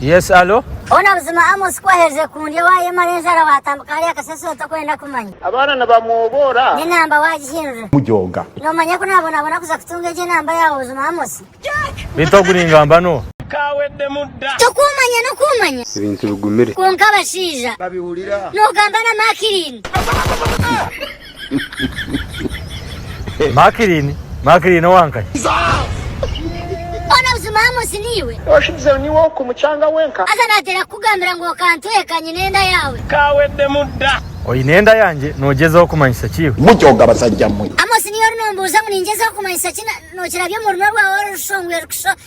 Yes allo. Hoo nabuzima Amos kuwaherize kundya wayemara enjara watambika hariya kasasiro tokwenda kumanya. Abaana nibamwoboora. Nenamba wagihindura. Mujooga. Nomanya ku nabonabona kuza kutunga egyo enamba yaawe buzima Amos. Beitu ogu ningamba no. Kaweddemu dda. Tokumanya nokumanya. Ebintu bigumire. Kwonka abashaija. Babihurira. Nogamba na Makirini. Makirini, Makirini owa nkahi? Haza nateera kukugambira ngu okantweka nyine enda yaawe. Oine enda yangye noogyezaho kumanyisa ki iwe? Amosi niiwe ori noombuuza ngu ningyezaho kumanyisa ki? Nookirabya omu runwa rwaawe orushongwire kushusha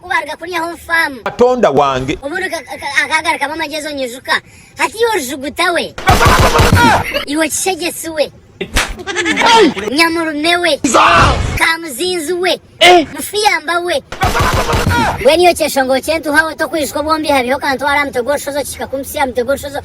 Ku baaruga kuryaho omu faamu. Katonda wange. Omuntu akaagarukamu amagyezo nyijuka. Hatiiya orujuguta we. Iwe kishegyetsi we. Nyamurume we. Kaamuzinzi we. Mufuyamba we. Mbwenu iwe kyeshongoro ky'entuuha we, tokwijuka obwombi habiiho kantwara aha mutwe gw'orushozi okihika kumpitsya aha mutwe gw'orushozi.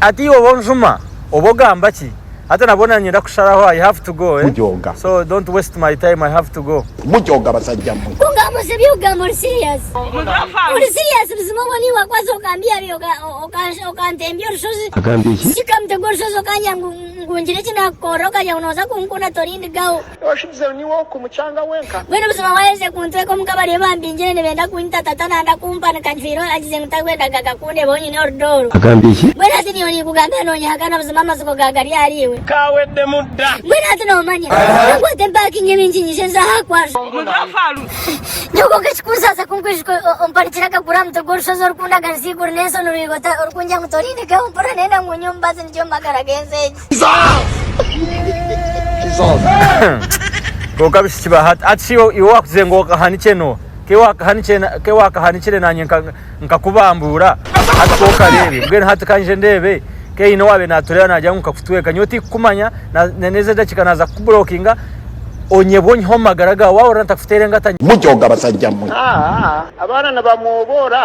Hati iwe oba onjuma oba ogamba ki hati nabwo nanyenda kusharaho i have to go eh so don't waste my time i have to go. Oshubizeho niwe oku mucanga wenka. Mbwenu buzima waherize kuntweka omuka bariyo bambingire nibenda kunyita tata nanda kumpa ni kajwiro agize ngu takwendaga kundeba onyine orudooro. Agambye ki? Mbwenu hati niiwe ninkugambira nonyehakana buzima amazigo ga gari ahari iwe. Kawedemu da. Mbwenu hati nomanya. Ka nkwate mpakinge bingi nyije nze aha kwanza. Omuntu afa aruhe? Nyoko nka ekikunsasa ku nkwijuka ompanikire akaguru aha mutwe gw'orushozi orukundaganisa eiguru n'ensi onu rwigo ori kungya ngu torindekayo mpurira nenda ngu nyowe mbaze nikyo mu magara g'ensi egi. Kwonka abishiki ba hati hati shi iwe wakugire ngu wakahanikye no ke wakahanikire nanye nkakubambuura hati ka okareebe mbwenu hati ka nje ndeebe ke haine owaabaire naatureeba naagira ngu nkakutweeka nyowe tikukumanya na n'ezi edakika naaza kukuburokinga onyebwe onyihe omu magara gaawe waahurira ntakuteera engata nyowe. Mujooga basajja mwe! Abaana nibamwoboora.